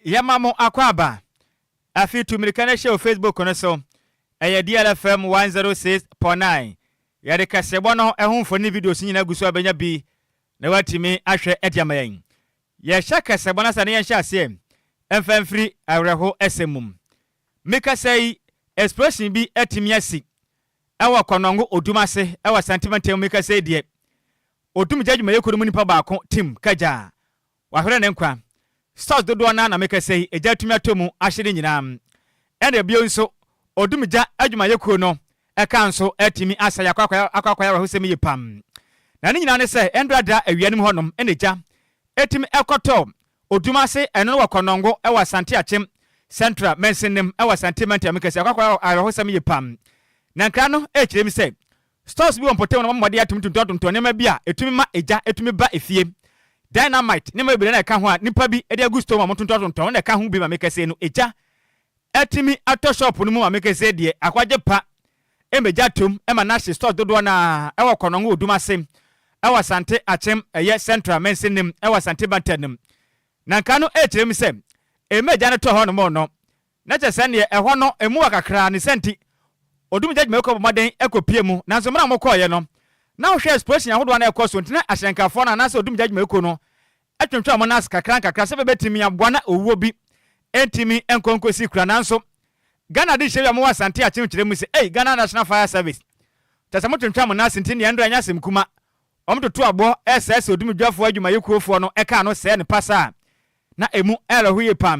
yɛma mo akwaaba afi tu mmirika no hyɛ wɔ facebook no so ɛyɛ DLFM 106.9 yɛde kaseɛbɔ no ho mfoni ne videos nyinaa gu so a bɛnya bi na watumi ahwɛ de ama yɛn Yɛhyɛ kasa mu anasa na yɛnhyɛ aseɛ mfa mfiri awerɛho sɛm mu. Me kasa yi explosion bi atumi asi wɔ Kɔnɔngo Odum ase wɔ Asante mantam mu. Me kasa yi deɛ Odum gya adwumayɛkuo no mu nipa baako Tim Kagya wahwerɛ ne nkwa. Stores dodoɔ no ara na me kasa yi gya atumi atɔ mu ahye ne nyinaa. Ɛna bio nso Odum gya adwumayɛkuo no Ɛka nso atumi asɛe akoakoakoakoa awerɛhosɛm yie pa ara. Na ne nyinaa ne sɛ ɛndora da awia no mu hɔnom na egya tumi kɔtɔ odum ase, ɛno no wɔ Kɔnnɔngo wɔ Asante Akyem Central Mansinim wɔ Asante Mantam mu kɛse. Akoakoakoa awerɛhosɛm yie pa ara. Na nkra no kyerɛ mu sɛ stores bi wɔ mpɔtam na wɔabɔ mmɔden atumi tontɔntontɔn nneɛma bi a ɛtumi ma egya tumi ba efie. Dynamite, nneɛma bebree na ɛka ho a nnipa bi de agu store mu a wɔtontɔntontɔn na ɛka ho bi ma me kɛse no egya Atumi atɔ shop no mu maame kɛseɛ deɛ akwagye pa mmɛgya atom ma no ahye stores dodoɔ no ara wɔ Kɔnɔngo Odum ase wɔ Asante Akyem ɛyɛ Central Mansin no mu wɔ Asante Bantan no mu. Na nka no ɛrekyerɛ mu sɛ mmɛgya no tɔ hɔnom no na kyerɛ sɛ neɛ ɛhɔ no ɛmu wɔ kakra ne saa nti Odum gya adwumayɛkuo bɔ mmɔden kɔ pie mu nanso mmerɛ a wɔkɔeɛ no na wohwɛ explosion ahodoɔ a na ɛrekɔ so nti na ahyɛnkafoɔ no anaasɛ Odum gya adwumayɛkuo no Ɛtwentwɛn wɔn ase kakrankakra sɛdeɛ ɛbɛtumi aboa na owuo bi ntumi nkɔ nkɔsi kura nanso Ghana de hyɛ wia mowɔ Asante Akyem kyerɛ mu sɛ ei Ghana National Fire Service kyɛ sɛ motwentwɛn mo nan ase nti nea ɛnra nyɛ asɛm kuma wɔn toto aboɔ ɛsɛɛ sɛ odumdwafoɔ adwumayɛkuofoɔ no ɛkaa no sɛɛ no pasaa na ɛmu ɛrɛho yie paa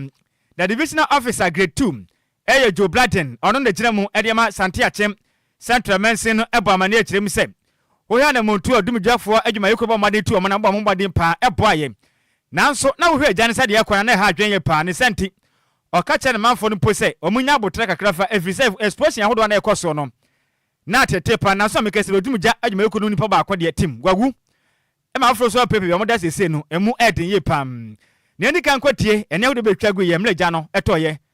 na Divisional Officer Grade Two Ɛyɛ Joe Bladden, ɔno na gyina mu de ma Sante Akyem Central Mansin no bɔ amanneɛ kyerɛ mu sɛ, Wohwɛ anammɔn tu a odumgyafo adwumayɛkuo bɔ mmɔden tu wɔn na wɔbɔ wɔn mmɔden paa ɛboa yɛn. Nanso na wohwɛ agya no sɛdeɛ ɛrekɔ no a na ɛha adwene yɛn paa. Ne saa nti, ɔka kyerɛ ne manfoɔ no mpo sɛ wɔnya aboterɛ kakra fa ɛfiri sɛ explosion ahodoɔ a na ɛrekɔ soɔ no na atete paa. Nanso meka sɛ odumgya adwumayɛkuo no mu nipa baako deɛ, Tim, wawu ma afoforɔ nso apirapira. Deɛ wɔda seesei no, ɛmu ɛyɛ den yie paa. Nea ɛdi kan kɔtie ɛnne ahodoɔ bɛtwa guiɛ mmerɛ gya no tɔeɛ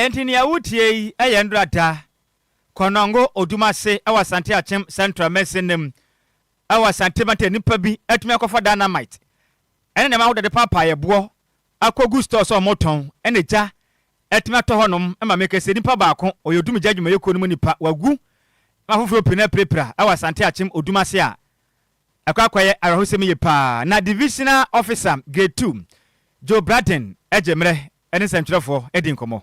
Enti nea woretie yi yɛ nnora da Konongo Odumase wɔ Asante Akyem Central Mansin no mu wɔ Asante Mantam. Nnipa bi atumi akɔfa dynamite ne nneɛma ahodoɔ de paapaa yɛboɔ akɔ gu store sɛ ɔmo tɔn ɛna gya ɛtumi atɔ hɔ nom ɛma me kɛseɛ nipa baako ɔyɛ odum gya adwumayɛ kuo no mu nipa wagu na afoforɔ pii no apirapira ɛwɔ asante akyem odum ase a ɛkɔ akɔ yɛ awerɛhosɛm yie paa na divisional officer grade two Joe Braden ɛgye mmerɛ ɛne nsɛntwerɛfoɔ ɛdi nkɔmɔ.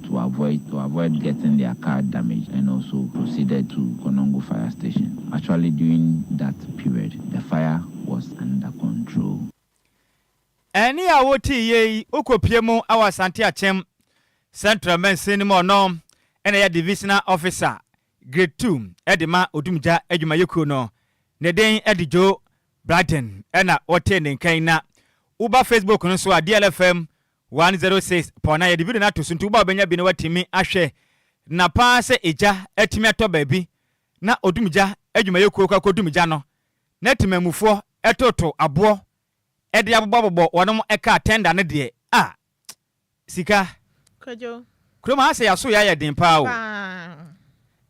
to avoid to avoid getting their car damaged and also proceeded to Konongo fire station. Actually during that period the fire was under control. Ɛnne a wotee yie yi wokɔpue mu wɔ Asante Akyem Central Mansin no mu ɔno na ɛyɛ Divisional Officer Grade Two de ma Odumgya Adwumayɛkuo no ne din de Joe Blyden na wotee ne nka yi na woba Facebook no so a DLFM One zero six pɔ na yɛde video no ato so nti wo ba bɛnya bi na watumi ahwɛ na paa sɛ egya atumi atɔ baabi na odumgya adwumayɛkuo kɔ akɔdum gya no na timamufoɔ ɛtoto aboɔ ɛde abobɔabobɔ wɔnom car tender no deɛ ah sika Kwadwo. Kurom ha sɛ yɛaso yɛ ayɛ den paa o. Paa.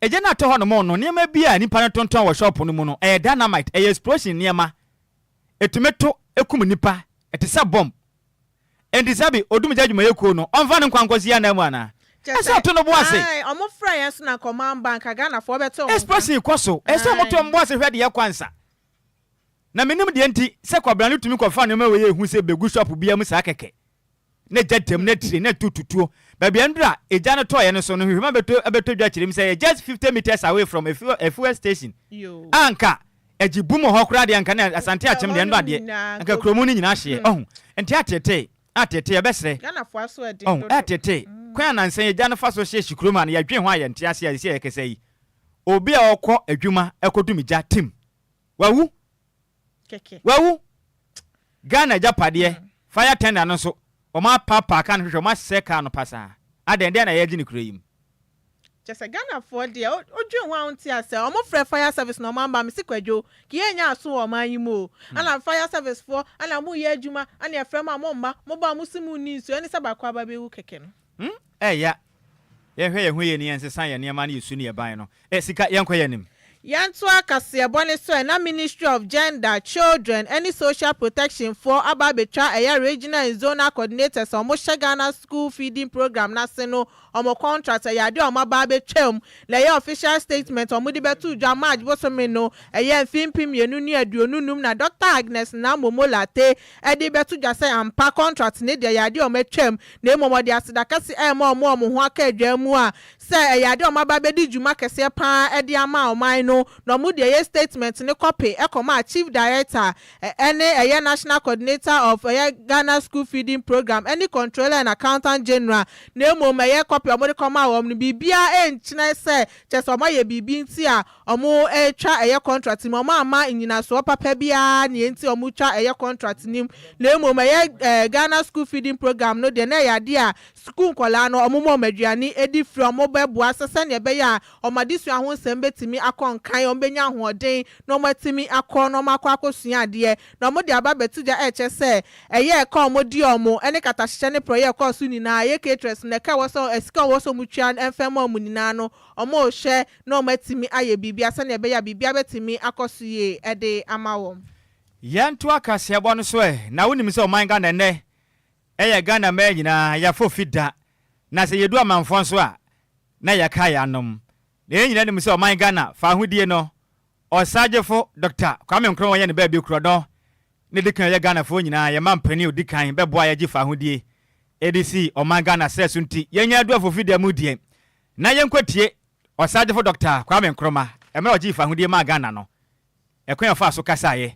Egya no a ɛtɔ hɔnom no nneɛma bi a nnipa no tontɔn wɔ shop no mu no ɛyɛ dynamite ɛyɛ explosion nneɛma ɛtumi to ɛkum nnipa ɛte sɛ bomb Enti sɛbe odumgya adwumayɛ kuo no, ɔmfa ne nkwa nkɔ si ananmu anaa? Kyerɛ Ɛsɛ sɛ, ɔto no bo ase. ae, wɔn frɛ yɛn so na anka wɔn amba, anka Ghanafoɔ bɛte wɔn nka. Expression kɔ so, Ɛsɛ sɛ wɔto wɔn bo ase hwɛ deɛ kwan sa. Na mennim deɛ nti sɛ kwabena no tumi kɔfa nneɛma wei a ɛhu sɛ bɛgu shop biara mu saa kɛkɛ, na egya tɛm, na tire, na tututuo. Baabi a nnuro a egya no tɔeɛ no so no nhwehwɛmu abɛtɔ abɛtɔ dwa kyerɛ mu sɛ ɛyɛ just fifty metres away from a fuel a fuel station a anka Ɛgye bum wɔ hɔ koraa deɛ anka ne Asante akyem deɛ ɛno adeɛ anka kuromu no nyinaa hyeɛ ɔhu nti atetee atetee ɛbɛsrɛ ɔhu atetee kwan a nansa yi agya no fa so hye hye kurom ha no yɛdwen ho a yɛnte ase a sisi a yɛkasa yi obi a ɔkɔ adwuma ɛkɔ dum gya tim wawu wawu Ghana agyapadeɛ fire tender no nso wɔn apaapaaka no hwehwɛ wɔn asɛe kaa no pasaa adɛn dɛn na yɛgye ne kuro yi mu Kyɛ sɛ Ghana foɔ deɛ wo dwen ho a wo nte aseɛ ɔmo frɛ fire service na ɔmo amba mese kwadwo kii ɛnyɛ aso wɔ ɔman yi mu o ɛna fire service foɔ ɛna ɔmo yɛ adwuma ɛna yɛfrɛ mo a mo mma mo ba a mo se mo nni nsuo ɛne sɛ baako aba bɛ wu kɛkɛ no. Humm ɛya yɛnhwɛ yɛn ho yie ne yɛnsesa yɛn nneɛma na yɛsu ne yɛban no eh sika yɛnkɔ yɛn anim. Yɛntoa kaseɛbɔ ne so ɛ, na Ministry of Gender, Children ne Social Protection foɔ aba abɛtwa ɛyɛ Regional and Zonal Coordinators a wɔhyɛ Ghana School Feeding Programme no ase no wɔn contract, ɛyɛ adeɛ a wɔn aba abɛtwa mu na ɛyɛ official statement a wɔde bɛto dwa March bosome no ɛyɛ mfeɛ mpem mmienu ne aduonu nnum na Doctor Agnes Namo Molate de bɛto dwa sɛ ampa contract no deɛ ɛyɛ adeɛ a wɔatwa mu na mmom wɔde aseda kɛse ɛrema wɔn a wɔn ho aka adwaa mu a sɛ ɛyɛ ade a wɔaba abɛdi dwuma kɛseɛ pa ara de ama ɔman no, na wɔde ɛyɛ statement no kɔpe kɔmaa Chief Director ne ɛyɛ National Coordinator of ɛyɛ Ghana School Feeding Programme ne Controller and Accountant General, na mmom ɛyɛ kɔpe a wɔde kɔmaa wɔn no, biribiara nkyerɛ sɛ kyerɛ sɛ wɔayɛ biribi nti a wɔretwa ɛyɛ contract no mu, wɔamma nnyinasoɔ papa biara nea enti a wɔtwa ɛyɛ contract no mu, na mmom ɛyɛ Ghana School Feeding Programme no deɛ na ɛyɛ adeɛ a Sukuu nkwadaa no, wɔma wɔn aduane di firi wɔn bɛboa so sɛdeɛ ɛbɛyɛ a wɔn adesua ho nsɛm bɛtumi akɔ nkan, wɔbɛnya ahoɔden na wɔn atumi akɔ na wɔn akɔ akɔsua adeɛ. Na wɔde aba abɛto gya ɛrekyɛ sɛ ɛyɛ ɛka a wɔdi wɔn ɛne katahyehyɛ ne porɔeɛ ɛkɔɔ so nyinaa, ɛyɛ caterers no ɛka ɛwɔ sɛ ɛsika a wɔwɔ sɛ wɔn tua no ɛmfa mma wɔn nyinaa no wɔrehwɛ na wɔn atumi ayɛ biribiara sɛdeɛ ɛbɛyɛ a biribiara bɛtumi akɔ so yie ɛde ama wɔn. Yɛntoa kaseɛbɔ no so ɛ, na wonim sɛ ɔman Ghana ɛnnɛ Ɛyɛ Ghana mmaa nyinaa yɛafɔ fi da, na sɛ yɛdu amanfoɔ nso a, na yɛka yɛn anom. Na yɛn nyinaa nim sɛ ɔman Ghana fawohodie no, Ɔsagyefo Dɔkta Kwame Nkrumah yɛ ne baabi korɔno na ɛdi kan yɛ Ghanafoɔ nyinaa yɛn mampanin a ɔdi kan bɛboa yɛn agye fawohodie de si ɔman Ghana srɛ so nti yɛnnya adu afɔ fi da mu deɛ na yɛnkɔtie Ɔsagyefo Dɔkta Kwame Nkrumah mmerɛ a ɔgyee fawohodie maa Ghana no, ɛkwan a ɔfaa so kasaeɛ.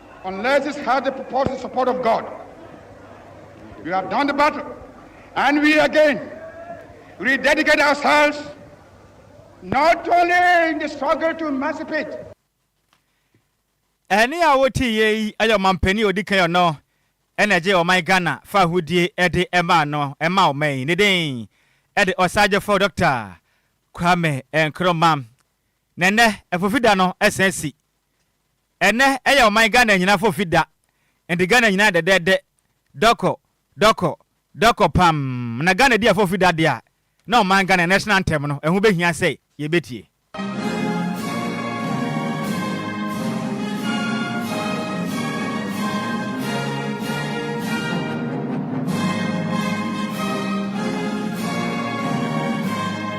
Unless it's had the purported support of God, we have done the battle and we again rededicate ourselves not only in the struggle to emancipate. Ɛne a wotii yɛ yi yɛ ɔmanpanin a odi kan ɔno na ɛgyee ɔman Ghana fa ahodie de maa no maa ɔman yi. Ne din de Ɔsaagyefo Dɔkta Kwame Nkrumah. Na ɛnnɛ, afofida no san si Ɛnnɛ ɛyɛ ɔman Ghana nyinaa fɔfi da, ɛnde Ghana nyinaa dɛdɛɛdɛ, dɔkɔ, dɔkɔ, dɔkɔ pamm, na Ghana di afɔfi da deɛ a, na ɔman Ghana National Anthem no, ɛho bɛhia sɛ yɛbɛtie.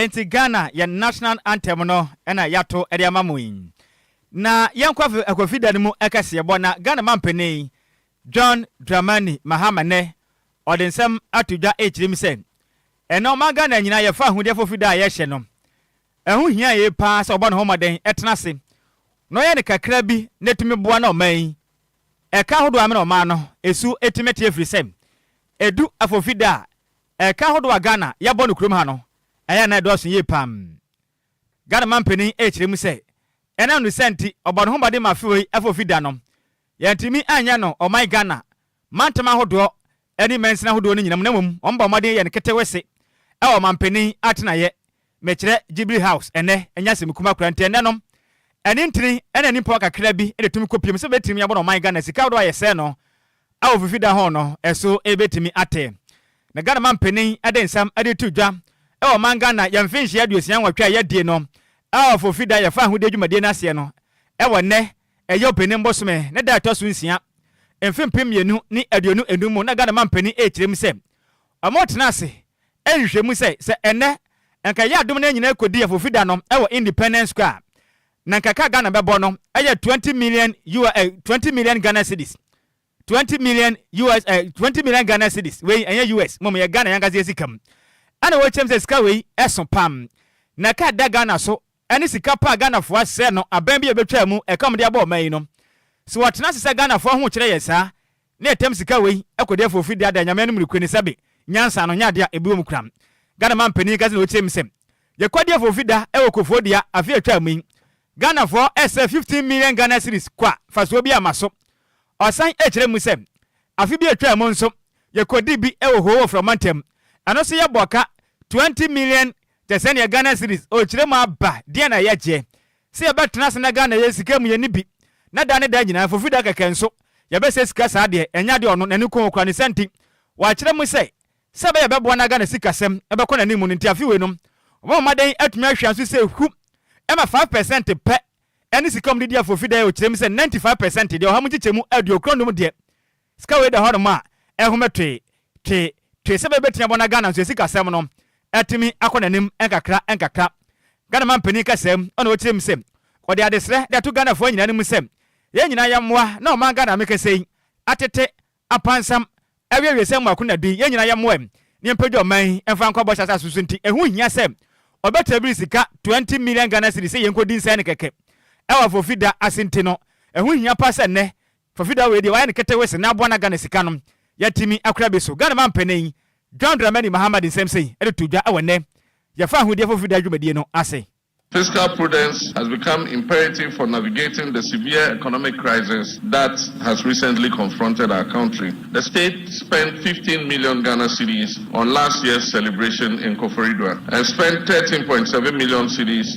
Enti Ghana yɛn national anthem no na yɛato de ama mo yi. Na yɛn kwafi akwafi da no mu ɛkɛseɛbɔ na Ghana mampanin John Dramani Mahama nɛ ɔde nsɛm ato dwa ɛrekyerɛ mu sɛ ɛnɛ ɔman Ghana nyinaa yɛfa ahudeɛ fofida a yɛhyɛ no Ɛho hia yiye paa sɛ ɔbɔ ne ho mmɔden tena ase na ɔyɛ ne kakra bi na etumi boa na ɔman yi ɛka ahodoɔ amena ɔman no su tumi te ɛfiri sɛ ɛdu afɔfida a ɛka ahodoɔ a Ghana yɛbɔ no kurom ha no ɛyɛ na ɛdɔɔso yie paa. Ghana manpanin rekyerɛ mu sɛ ɛnam ne saa nti ɔbɔ ne ho mmɔden ma afewei afɔfida no yɛantumi anyɛ no ɔman Ghana mantam ahodoɔ ɛne mansini ahodoɔ no nyinam na mmom wɔn bɔ mmɔden yɛ no ketewese wɔ ɔmanpanin atenaeɛ, mekyerɛ, Jubilee House, ɛnnɛ, ɛnyɛ asɛm kumaa koraa nti ɛnnɛnom ɛne ntini ɛna nnimpawa kakra bi na ɛtumi kɔpiem sɛ bɛbɛtimi abɔ no ɔman Ghana sika ahodoɔ a yɛsɛɛ no wɔ fifida ho no so ɛbɛtumi atɛ na Ghana manpanin de nsam de reto dwa wɔ ɔman Ghana yɛn mfenhyia aduosia nwɔtwe a yɛadie no wɔ fifida yɛfaa ahodie dwumadie no aseɛ no wɔ nnɛ Eyob ne mbosome ne da a ɛtɔ so nsia, mfe mpem mmienu ne aduonu enum mu na Ghana mampanin rekyerɛ mu sɛ wɔretena ase rehwehwɛ mu sɛ sɛ ɛnnɛ nka ɛyɛ adom na yɛn nyinaa kɔdi Afofi da no wɔ Independence Square a, na nka ka a Ghana bɛbɔ no yɛ twenty million ua eh, twenty million Ghana cedis. Twenty million US eh, twenty million Ghana cedis wei ɛnyɛ US mmom yɛ Ghana yɛn ankasa yɛ sika mu ɛna wɔkyerɛ mu sɛ sika wei ɛso pam na ka da Ghana so ɛne sika pa a Ghanafoɔ asɛɛ no abɛn bi a ɛbɛtwaa mu, ɛka wɔn de abɔ ɔman yi no. Sɛ wɔtena ase sɛ Ghanafoɔ ahokyerɛ yɛ saa, na ɛtam sika wei kɔdi afɔ firi daadaa Nyame anom rekure no sɛbe nyansa no nyɛ adeɛ a ɛbi wɔ mu koraa. Ghana man panin ka sɛnea ɔteam sɛ, Yɛkɔdi afɔ firi da wɔ Kufuor dua afe a ɛtwaa mu yi. Ghanafoɔ sɛɛ 15 million Ghana cedis kwa fasoɔ bi amma so. Ɔsan kyerɛ mu sɛ, Afe bi a ɛtwaa mu nso, yɛkɔdii bi wɔ Hoo wɔ Frɔma ntam. Ɛno nso yɛbɔɔ ka 20 million Te sɛ nea Ghana cedis rekyerɛ mu aba, deɛn na yɛgye sɛ yɛbɛtena ase na Ghana yɛ sika mu yɛn no bi, na daa ne daa nyinaa, fofi da kɛkɛ nso, yɛbɛsɛe sika saa deɛ, ɛnyɛ adeɛ a ɔno n'ani kɔn ho koraa, ne saa nti, wɔakyerɛ mu sɛ, sɛ ɛbɛyɛ a ɛbɛboa na Ghana sikasɛm bɛkɔ n'anim no nti, afe wei no, wɔbɛmoma dɛn atumi ahwɛ nso sɛ hu ma five percent pɛ ne sika mu de di afofi da yɛ, ɔkyerɛ mu sɛ ninety five percent deɛ, ɔha mu nkyekyɛmu aduokron nnum deɛ, Sika wei da hɔ nom a ɛhome twee, twee, twee sɛ bɛbɛtumi abɔ na Ghana nso asikasɛm no atumi akɔ n'anim nkakra nkakra. Ghana manpanin kasaa mu na ɔkyerɛ mu sɛ ɔde adesrɛ de ato Ghanafoɔ nyinaa anim sɛ yɛn nyinaa yɛmmoa na ɔman Ghana a mekasa yi atete, apansam, awie awiesɛ mu akona bi, yɛn nyinaa yɛmmoa na yɛmpagya ɔman yi mfa nkɔ bɔhyɛ asase so nti ɛho hia sɛ ɔbɛtra biri sika 20 million Ghana cedis sɛ yɛnkɔdi nsɛn no kɛkɛ wɔ afɔfida ase nti no ɛho hia pa sɛ nnɛ Fafida wei deɛ wayɛ no ketewe sene aboa na Ghana sika no yɛatimi akora bi so. Ghana manpanin John Dramani Mahama de nsɛm sei de too dwa wɔ nnɛ yɛfa ahudeɛ fafida dwumadie no ase. Fiscal prudence has become imperative for navigating the severe economic crisis that has recently confronted our country. The state spent fifteen million Ghana cedis on last year's celebration in Koforidua and spent thirteen point seven million cedis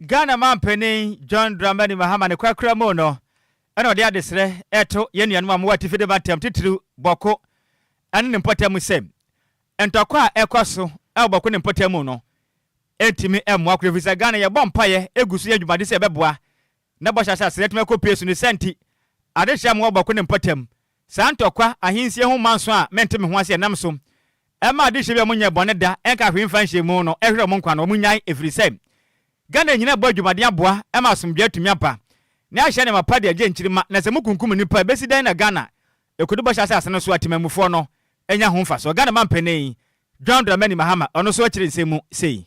Ghana manpanin John Dramani Mahama ne kwakora mu no na ɔde adesrɛ reto yɛn nuanom a wɔwɔ atifi de ba ntam, titiriw Bɔko ne ne mpɔtam mu sɛ, ntɔkwa a ɛkɔ so wɔ Bɔko ne mpɔtam mu no ntumi mmoa koro efisɛ Ghana yɛbɔ mpaeɛ gu so yɛ dwumadi sɛ yɛbɛboa na bɔhyɛ asase no atumi akɔ pue so. Ne saa nti, adekyerɛ a mowɔ Bɔko ne mpɔtam Saa ntɔkwa ahensie ho manso a mente me ho ase ɛnam so ɛma adehyeɛ bi a wɔnyɛɛ bɔne da ɛnkaa hwee mfa nhyɛɛ mu no ɛhwerɛ wɔn nkwa no wɔn nyae ɛfiri sɛ Ghana nyina ɛbɔ adwumaden aboa ɛma asomdwoeɛ atumi aba ne ahyɛ nneɛma pa de agye nkyirima na sɛ mo kunkum nnipa ɛbɛsi dɛn na Ghana ɛkɔdu bɔhyɛ asase no so a temanmufoɔ no anya ho mfasoɔ Ghana manpanin John Dramani Mahama ɔno nso akyire nsɛm mu sei.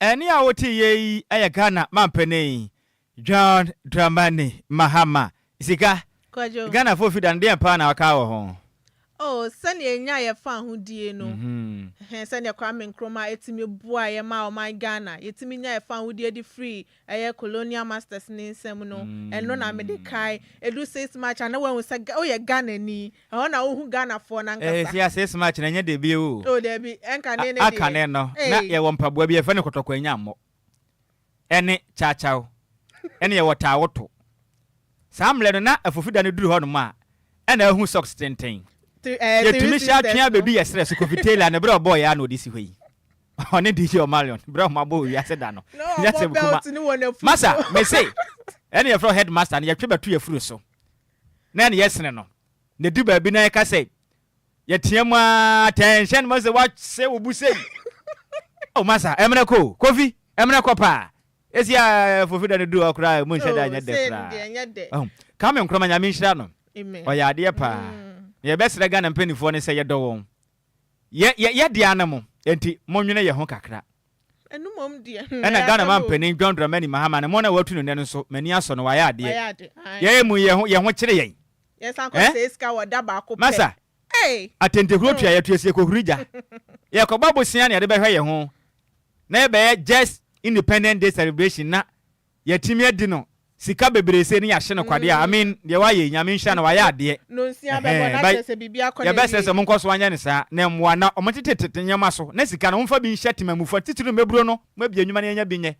Ɛnne a woteeɛ yi yɛ Ghana manpanin John Dramani Mahama sika. Kwadwo. Ghanafoɔ fi da no, deɛn paa na waka wɔ ho? Oh, sɛdeɛ yɛnyaa yɛn fahodie no, ɛhɛn, sɛdeɛ Kwame Nkrumah tumi boaeɛ maa ɔman Ghana, yɛtumi nyaa yɛn fahodie de firii ɛyɛ colonial masters no nsam no, ɛno na mede kae. Ɛdu six March a, na wɔahu sɛ Ga, woyɛ Ghanani. Ɛhɔ na wohu Ghanafoɔ no Eh, ankasa. sia six March no, ɛnyɛ dɛ bio o. Oh, daabi, ɛnka ne ne A, deɛ. aka ne no, na Ei! yɛwɔ mpaboa bi, yɛfrɛ no kɔtɔkɔ anyammɔ, ɛne kyawkyaw, ɛne yɛwɔ taawoto. Saa mmerɛ no, na afofida no duru hɔnom a, ɛna ahu socks tenten. Three, eh, Three Yɛtumi hyɛ Sisters atwea no. bɛdu yɛ serɛ so, Kofi Taylor, ne berɛ a ɔbɔeɛ ara na ɔde si hɔ yi. Ɔne DJ Omalion berɛ a wɔn abɔ wiase da no. Na Nyɛ ɔbɔ asɛm kuma. belt no wɔ n'afu so. Masa, me se, ɛne yɛfrɛ wo headmaster no, yɛtwe bɛto yɛafuru so, na ɛne yɛsene no. Na ɛdu baabi na yɛka sɛ, yɛteam ara, attention, mahu sɛ woasɛ wo bo sei. Oh, Masa, ɛmmerɛ kɔ o, Kofi, ɛmmerɛ kɔ paa. Ɛsi a Fofi da no duru hɔ koraa a, ɛmu nhyɛ da Oh, nyɛ dɛ sei no koraa. deɛ ɛnyɛ dɛ. Wahu? Kwame Nkrumah, Nyame nhyira no. Amen. Ɔyɛ adeɛ paa. Mm. Nea yɛbɛsrɛ Ghana mpanimfoɔ ne sɛ yɛdɔ wɔn. Yɛ yɛ yɛ dea no mo nti monwene yɛ ho kakra. Ɛno mmom deɛ hmm ɛna ɛyɛ Ghana asɛm o. mampanin John Dramani Mahama ne mo na watu no nnɛ no nso m'ani asɔ no wayɛ adeɛ. Wayɛ ade ae. Yɛɛ mu yɛ ho yɛ ho kyere yɛn. Yɛ san kɔ Eh? sɛe sika wɔ da baako pɛ Masa, ei atɛntɛhuro tua hmm. yɛtua sika kɔhuri gya. Yɛ kɔbɔ bosea na yɛde bɛhwɛ yɛ ho na yɛ bɛyɛ just independent day celebration na Yatimi adi no sika bebree sei ne yahye no kwadeɛ a I mean deɛ wayɛ yi nyame nhyira no wayɛ adeɛ ɛhɛɛn but yɛbɛsrɛ sɛ monkɔ so nyɛ no saa na ɛmmoa na ɔmo ntete tete nneɛma so na sika no momfa bi nhyɛ temamufo atitire no mmɛburo no mo abie nnwuma no yɛnya bi nyɛ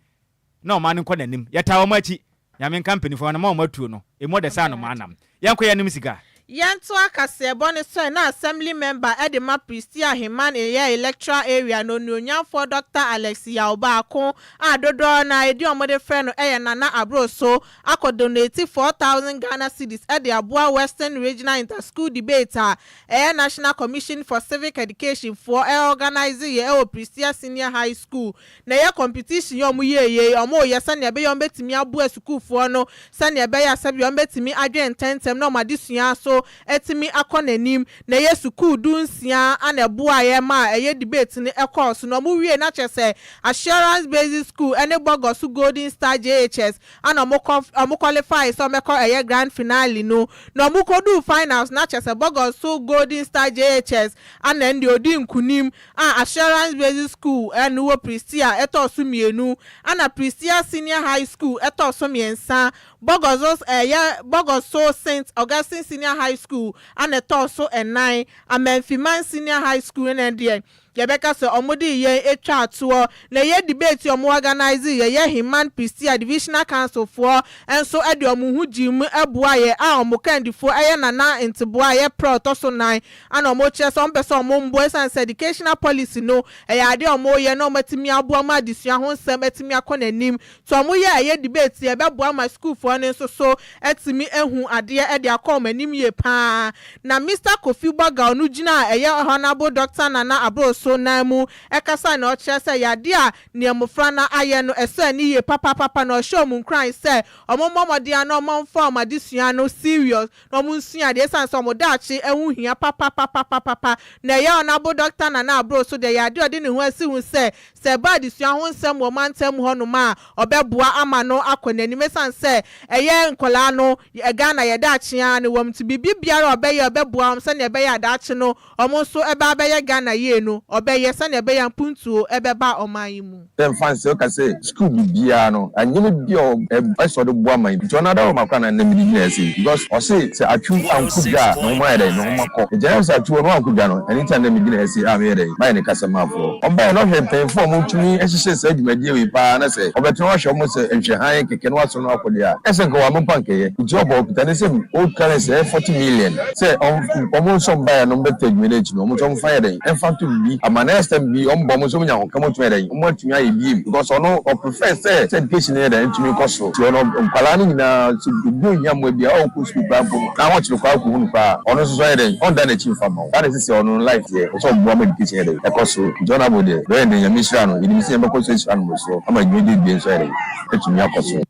na ɔman no nkɔ nanim yɛtaa ɔmo akyi nyame nka mpanyinfoɔ no ma ɔmo atuo no emu ɔdɛ saa no mo anam Yɛnkɔ yɛnom sika. Yɛntoa kaseɛbɔ no sɔɛ na Assembly Member de ma Prestea Aheman Eyɛ Electoral Area no Onuonyamfoɔ Dɔkta Alex Yaw baako a dodoɔ no ara edin a wɔde frɛ no yɛ Nana Abroso akɔ donate four thousand Ghana cedis de aboa Western Regional Inter-School Debate a ɛyɛ National Commission for Civic Education foɔ organise yɛ wɔ Prestea Senior High School na ɛyɛ competition yi a ɔmo yɛɛ yei, ɔmo reyɛ sɛnea ɛbɛyɛ ɔmo bɛtumi aboa sukuufoɔ no sɛnea ɛbɛyɛ a sɛbea ɔmo bɛtumi adwene ntɛntɛm na ɔmo adesua so atumi akɔ n'anim, na ɛyɛ sukuu du nsia a na ɛboaeɛ ma ɛyɛ debate no ɛkɔɔ so, na ɔmo wiee no a kyerɛ sɛ Assurance Basic School ɛne Bɔgɔso Golden Star JHS a na ɔmo kɔ ɔmo kɔlifaae sɛ ɔmo bɛkɔ ɛyɛ grand finale no, na ɔmo kɔduu finals no a kyerɛ sɛ Bɔgɔso Golden Star JHS a na ɛnde ɔdii nkunim a Assurance Basic School a ɛno wɔ Prestea ɛtɔ so mmienu ɛna Prestea Senior High School ɛtɔ so mmiɛnsa. Bogossos ɛyɛ Bogosso Saint Augustine Senior High School ɛna ɛtɔ so nnan. Amanfiman Senior High School no deɛ yɛbɛka sɛ wɔn de yɛn twaa toɔ. Na ɛyɛ debate a wɔn organise yɛ, yɛ Heman Prestea Divisional Council foɔ nso de wɔn ho gyee mu boaa yɛn a wɔn kandifoɔ yɛ Nana Nteboa a ɛyɛ Pra ɔtɔ so nnan Ana wɔkyerɛ sɛ wɔmpɛ sɛ wɔmboa esiane sɛ educational policy no yɛ ade a wɔyɛ na wɔatumi aboa ma adesua ho nsɛm atumi akɔ n'anim. Nti wɔyɛ a ɛyɛ debate yi ɛbɛboa ma sukuufoɔ no nso so atumi ahu adeɛ de akɔ wɔn anim yie pa ara. Na Mister Kofi Bourgault no gyina a ɛyɛ Honourable Doctor Nana Aboro so nan mu ɛkasa na ɔkyerɛ sɛ ɛyɛ adeɛ a neɛ mmofra no ayɛ no ɛsɔ ani yie papapapa na ɔhyɛ wɔn nkuran sɛ wɔmmɔ mmɔden ara na wɔmfa wɔn adesua no serious na wɔnsua adeɛ ɛsiane sɛ wɔn daakye ho hia papapapapapa. Na ɛyɛ a ɔnabo Dɔkta Nana Abrow so deɛ ɛyɛ adeɛ a ɔde ne ho asi ho sɛ, sɛ ɛba adesua ho nsɛm wɔ mantam mu hɔnom a, ɔbɛboa ama no akɔ n'anim ɛsiane sɛ ɛyɛ nkwadaa no Ghana yɛ daakye ara na ɛwɔ mu nti biribi biara a ɔbɛyɛ a ɔbɛboa wɔn sɛdeɛ ɛbɛyɛ a daakye no Ɔmo nso bɛ abɛyɛ Ghana yie no ɔbɛyɛ sɛnea ɛbɛyɛ a mpuntuo bɛba ɔman yi mu. Sɛ mfa nsɛ ɔka sɛ sukuu bibiaa no anyɛma bi a ɔbɛ sɛ ɔde boa man yi nti ɔno ara wɔ ma kora na nnɛ mede gyina ha sei because ɔse sɛ atwiw ankɔ dwa a ne ho ayɛ dɛn ne ho ma kɔ ɛgyae sɛ atwiw ɔno ankɔ dwa no ɛno nti na nnɛ megyina ha sei a meyɛ dɛn mayɛ ne kasamafoɔ ɔbaeɛ na ɔhwɛ mpanyinfoɔ a ɔmo tumi hyehyɛ saa dwumadie wei paa na sɛ ɔbɛtena hɔ ahwɛ ɔmo sɛ nhwɛhan kɛkɛ na Ɔsoro no akode a ɛsɛ nka wamma mpo anka ɛyɛ nti ɔbɔ ɔkita ne nsam old currency ɛyɛ forty million sɛ ɔm ɔmo nso mba yɛ no ɔmbɛ ta adwuma no akyi no ɔmo nso ɔmfa nyɛ dɛn ɛmfa nto bibi ama next time bi ɔmo ba ɔmo nso ɔmo nya ahokam ɔtumi ayɛ dɛn ɔmo atumi ayɛ biem because ɔno ɔ prefer sɛ sɛ education no yɛ dɛn ɛtumi kɔ soro nti ɔno nkwadaa no nyinaa sɛ obi onhia mmoa bi a ɔwɔ kɔ sukuu koraa mpo no na ahokyere koraa ɔkɔ hu no koraa a ɔno nso so ayɛ dɛn ɔnda n'akyi mfa mma wo saa na ɛsɛ sɛ ɔno life teɛ ɔsɛ ɔboa ma education yɛ dɛn ɛkɔ soro nti honourable deɛ bɛyɛ dɛn nyame nhyira no yɛnim sɛ nyame bɛkɔ so ahyira no mmorosoɔ ama dwumadie no bie nso ayɛ dɛn. atumi akɔ so.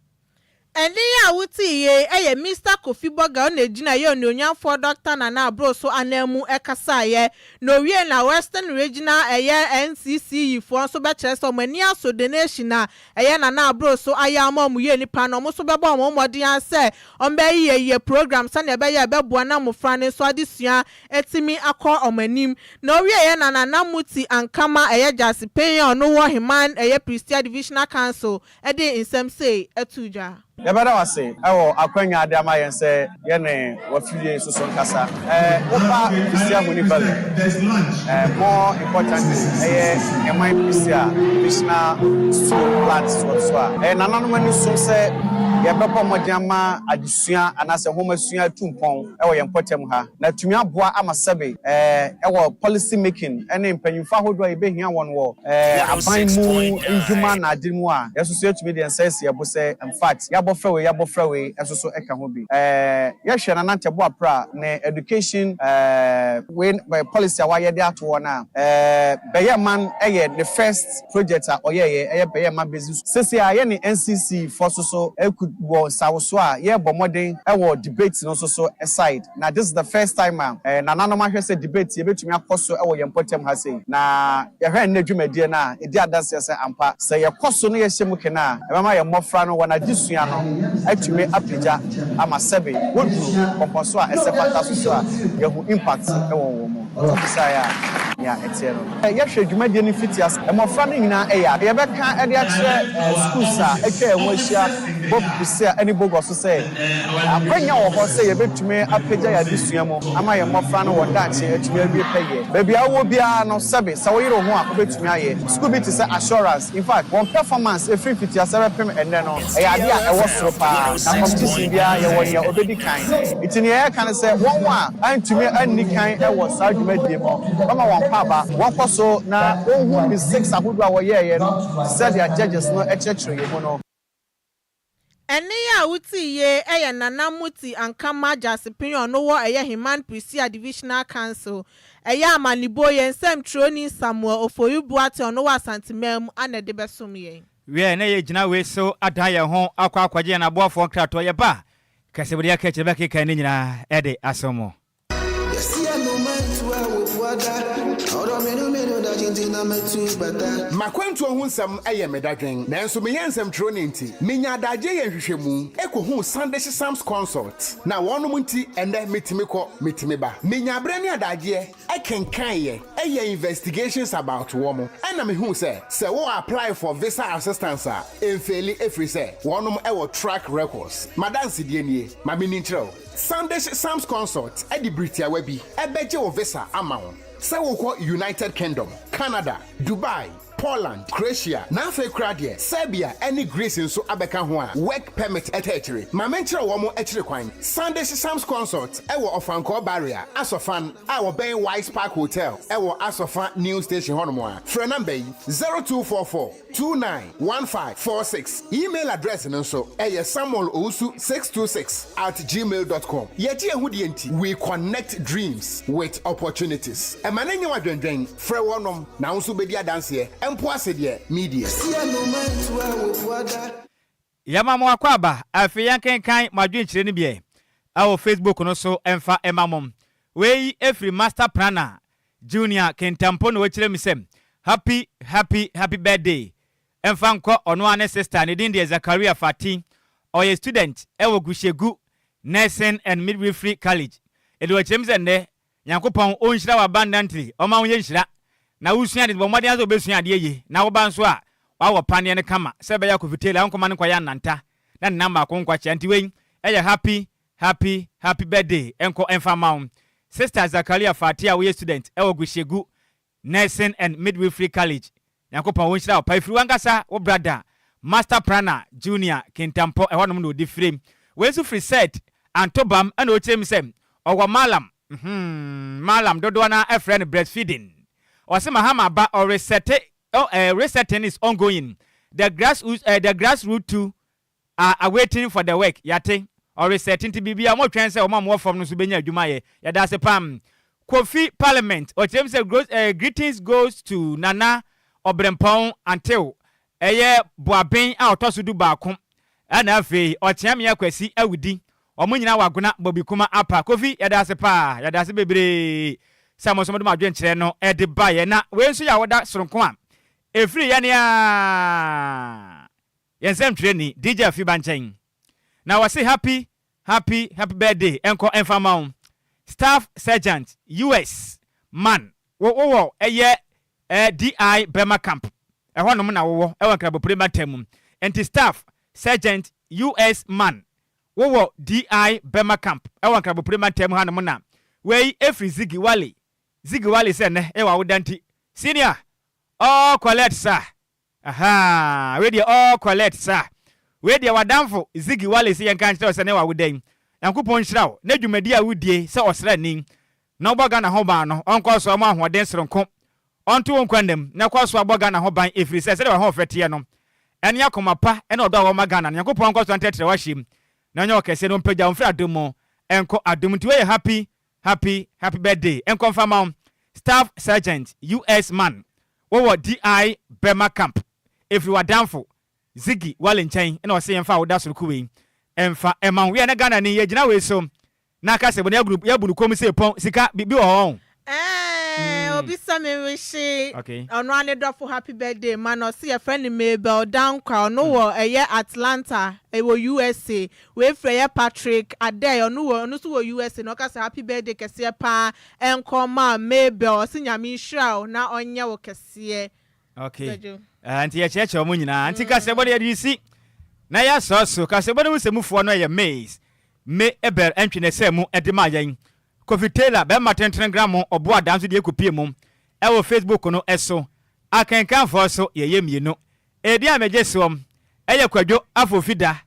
Ɛnne yi a wotie yi yɛ Mister Kofi Boga ɔna ɛgyina yɛ Onuonyamfoɔ Dɔkta Nana Abroso ananmu kasaeɛ. Na owiee no a Western Regional ɛyɛ NCC yifoɔ nso bɛkyerɛ sɛ wɔn ani aso donation a ɛyɛ Nana Abroso ayɛ ama wɔn yie nipa no, wɔn nso bɛbɔ wɔn mmɔden ara sɛ wɔbɛyeyɛyeyɛ program sɛdeɛ ɛbɛyɛ a ɛbɛboa na mmofra no nso adesua atumi akɔ wɔn anim, na ɔwieɛ na Nana Muti Ankama ɛyɛ Gyasi Panyin a ɔno wɔ Heman ɛyɛ Prestea Divisional Council de nsɛm sei too dwa. Yɛbɛda wo ase wɔ akwanya a wode ama yɛn sɛ yɛne w'afie yi soso nkasa. Woba Prestea Huni Valley more importantly ɛyɛ Heman Prestea Divisional School plant soɔ so a, ɛyɛ nananom ani som sɛ yɛbɛbɔ mmɔden ama adesua anaasɛ nhomasua atu mpɔn. wɔ yɛn mpɔtam ha, na atumi aboa ama sɛbe wɔ policy making ne mpanyimfo ahodoɔ a yɛbɛhia wɔn wɔ aban mu ndwuma na ade mu a, yɛn nso so yɛtumi de yɛn nsa asi yɛn bo sɛ in fact yɛabɔfra wei, yɛabɔfra wei nso so ka ho bi. Yɛhwɛ Nana Ntebuapra ne education wei policy a wayɛ de ato hɔ no a, bɛyɛ man yɛ ne first. project a ɔyɛeɛ yɛ pɛ yɛ ma bɛsi so. Sese ara yɛne NCC foɔ so so rekut wɔ nsawo so a yɛrebɔ mmɔden wɔ debate no so so side na this is the first time a nananom ahwɛ sɛ debate yɛbɛtumi akɔ so wɔ yɛn mpɔtam ha sei na yɛhwɛ nnɛ dwumadie no a ɛdi adanseɛ sɛ ampa sɛ yɛkɔ so na yɛhyɛ mu kene a ɛbɛma yɛn mmɔfra no wɔn adesua no atumi apagya ama sɛbe wɔduru mpɔmpɔnso a ɛsɛ fata so so a yɛahu impact wɔ wɔn mu. Wote bisaeɛ a, nea ɛteɛ no. Yɛhwɛ dwumadie no mfitiase. Mmɔfra no nyinaa yɛ a, yɛbɛka de akyerɛ sukuus a atwa yɛn ho ahyia Bob Busia ne Bogor so sɛ, akwanya wɔ hɔ sɛ yɛbɛtumi apagya yɛn adesua mu ama yɛn mmɔfra no wɔn daakye atumi awie pɛyɛ. Baabi a wowɔ biara no, sɛbe sɛ woyere wo ho a, wobɛtumi ayɛ. Sukuu bi te sɛ Assurance. In fact, wɔn performance ɛfiri mfitiaseɛ bɛpem ɛnnɛ no, ɛyɛ adeɛ a ɛwɔ soro pa ara, na competition biara yɛwɔ deɛ ɔbɛdi kan. Nti deɛ yɛreka ne sɛ, wɔn a antumi anni kan wɔ saa dwumadie mu no, wɔmma wɔn nkɔ aba, wɔnkɔ so na wɔnhu mistakes ahodoɔ a wɔyɛeɛ no, te sɛ deɛ judges no kyerɛkyerɛeɛ mu no. Ɛnne yi a wotie yi yɛ Nana Motsi Ankama Gyasepinyon no wɔ ɛyɛ Heman Prisia Divisional Council, ɛyɛ amanebɔ yɛn nsɛmtwerɛni Samuel Ofoyu Boateng ɔno wɔ Asante man mu ana ɛde bɛsom yɛn. Wiɛ na yɛ gyina wei so adan yɛn ho akɔ akɔgye yɛn aboafoɔ nkratoɔ yɛ ba kɛsebedeɛ kɛkyerɛ bɛkeka ne nyinaa de asom mo. M'akwantuo ho nsɛm yɛ me dadwen, nanso meyɛ nsɛmtwerɛni nti, menya adagyeɛ yɛ nhwehwɛmu kɔhu Sunday Sysoms Consult, na wɔnom nti ɛnnɛ metumi kɔ, metumi ba. Menya berɛ ne adagyeɛ kenkan yɛ, yɛ investigations about wɔn, ɛna mehu sɛ, sɛ wo apply for visa assistance a, ɛnfeeli ɛfiri sɛ wɔnom wɔ track records. M'adansedie nie, ma menni nkyerɛ wo. San de hyɛ Sam's Consult de bere tiawa bi bɛgye wo visa ama wo sɛ wokɔ United Kingdom, Canada, Dubai, Poland, Croatia, na afei koraa deɛ Serbia ne Greece nso abɛka ho a Work Permit ta akyire. Ma menkyerɛ wɔn akyiri kwan. San de hyɛ Sam's Consult wɔ Ɔfankɔɔ Barrier, Aso Fan, a wɔbɛn Wise Park Hotel wɔ Aso Fa New Station hɔnom a, frɛ nɔmba yi, 0244. two nine one five four six. Email address no nso, ɛyɛ samuelowusu six two six at gmail dot com. Yɛgye yɛn ho die nti, we connect dreams with opportunities. Ɛma no nyɛ wo adwendwen. Frɛ wɔnom na wo nso wobɛdi adanseɛ. Ɛmpo ase deɛ, me die. Yɛma mo akwaaba a afei yɛnkenkan mo adwenkyerɛ no bi ɛ wɔ Facebook no so mfa ma mo. Wei firi Master Prana Junior Kintampo na ɔkyerɛ me sɛ Happy Happy Happy Birthday mfa nkɔ ɔno ara ne sister ne din deɛ Zakaria Fati ɔyɛ student wɔ Gushegu Nursing and Midwifery College ɛde ɔkyerɛ me sɛ nnɛ Nyankopɔn onhyira wo abundantly, ɔma wo yɛ nhyira, na wo sua ade no bɔ mmɔden ara sɛ wobɛsua adeɛ yie, na wo ba nso a wawɔ paneɛ no kama sɛ bɛyɛ akofiteli a wonkɔma no nkɔyɛ ananta na ne nan baako nkwakyea, nti wei yɛ happy happy happy birthday nkɔ mfa mma wo sister Zakaria Fathia woyɛ student wɔ Gushegu Nursing and Midwifery College Nyankopɔn wonhyira wo paa ɛfiri wankasa wo brada Master Prana Junior Kintampɔ ɛhɔnom na ɔde firim wei nso firi Sed Antobam ɛna ɔkyerɛ mu sɛ ɔwɔ Malam hmm Malam dodoɔ no ara frɛ no breastfeeding ɔse Mahama aba ɔresɛte oh eh resetting is ongoing the grass eh the grass root to Ah ah waiting for the work yɛate ɔresɛte nti biribi a wɔtwɛn sɛ wɔn a wɔwɔ fam no nso bɛnya adwuma ayɛ yɛdase pam Kofi parliament ɔkyerɛm sɛ gross eh greetings goes to Nana Ɔbrempɔn Antew ɛyɛ Boaben a ɔtɔ so du baako ɛna afei Ɔkyeameɛ Kwasi Awudi wɔn nyinaa wɔ Agona Bobikuma Apa Kofi yɛdase paa yɛdase bebree sɛ mo nso mode mo adwenkyerɛ no ɛde baeɛ na wei nso yɛ awoda soronko a ɛfiri yɛn aa. Yɛn nsɛmtwerɛni DJ Afi ba nkyɛn na wɔse happy happy happy birthday nkɔ mfa mma wo Staff Sergeant US man wo wowɔ ɛyɛ eh DI Burma camp ɛhɔ nom na wowɔ ɛwɔ Nkrabopire mantam mu nti Staff Sergeant US man wowɔ DI Burma camp ɛwɔ Nkrabopire mantam ha nom na wei ɛfiri Ziggy Wally Ziggy Wally sɛ nnɛ ɛyɛ w'awoda nti Senior ɔɔ collect sa Ahaa wei deɛ all collect sa. Wei deɛ w'adamfo Ziggy Wallace yɛnka nkyerɛ wo sɛ ne wawo dɛn? Nyankopɔn nhyira wo ne dwumadie a wodie sɛ ɔsrani na wobɔ Ghana ho ban no ɔnkɔ so mɔ ahoɔden soronko ɔnto wo nkwa nnam na kɔ so abɔ Ghana ho ban ɛfiri sɛ sɛdeɛ w'ahoɔfɛ teɛ no ɛne akoma pa ɛne ɔdɔ a wowɔ ma Ghana no Nyankopɔn nkɔ so ntrɛtrɛ wo ahyem na ɔnyɛ wo kɛseɛ na ɔmpagya wo mfiri adom mu nkɔ adom mu nti wei yɛ happy Happy happy birthday nkɔ nfa ma wo staff sergeant US man wo wɔ DI Burma camp ɛfiri wadanfo Ziggy Wale nkyɛn na ɔse yɛnfa wo dasoroku wei nfa ma wo yɛ na Ghana ni yɛgyina wei so na aka sɛ bone agunu yɛabu no kɔm se pɔn sika bi bi wɔ hɔ ɔn. Eeii obi sɛ me wihye Okay. ɔno ara ne dɔfo happy birthday ma no ɔse yɛfrɛ no Mabel Dankwa ɔno wɔ ɛyɛ Atlanta ɛwɔ USA Wei frɛ yɛ Patrick Adey ɔno wɔ ɔno nso wɔ USA na ɔka sɛ happy birthday kɛseɛ paa nkɔ ma Mabel ɔse Nyame nhyira wo na ɔnyɛ wo kɛseɛ Ok Badwo. Ah, nti yɛkyerɛkyerɛ ɔmo nyinaa. Nti kaseɛbɔ no yɛde resi na yɛasɔ so. Kaseɛbɔ no mu nsɛmufoɔ no yɛ Ms. Me Abel Ntwenɛsɛ mu de maa yɛn. Kofi Taylor, bɛɛma tentene gramo ɔbo adaa nso deɛ kɔpie mu wɔ Facebook no so. Akenkanfoɔ nso yɛyɛ mmienu. Edin a megye soɔ yɛ Kwadwo Afofida.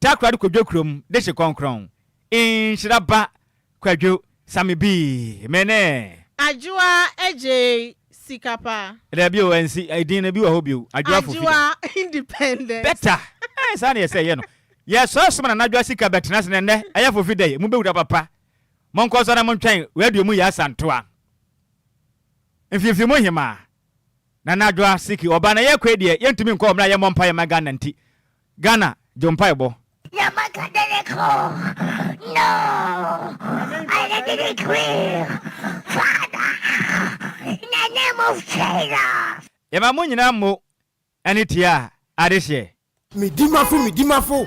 Takoradi kwadwo kurom de hye kɔnkrɔn nhyira ba kwadwo same bii me ne. Adwoa gyee sika pa. Dabi o ɛnsi din no bi wɔ hɔ bio adwoa fo fida. Adwoa independent. Better ɛɛ saa na yɛsɛ yɛ no yɛ sɔre soma nana adwoa sika bɛ tena ase na nɛ ɛyɛ fo fida yi mo bɛ wura papa mo nkɔ so na mo ntwɛn radio mu yɛ asantoa mfimfini mu hemaa nana adwoa siki ɔba na yɛ kɔ yi deɛ yɛ ntumi nkɔ ɔmra yɛ mmɔ mpaeɛ ma Ghana nti Ghana dwo mpaebɔ. Na maka dɛ ne kɔ no ɔyɛ de ne queen father na name of Jesus. Yɛma mo nyinaa mo ani tiaa adehyeɛ. Medi m'afo medi m'afo.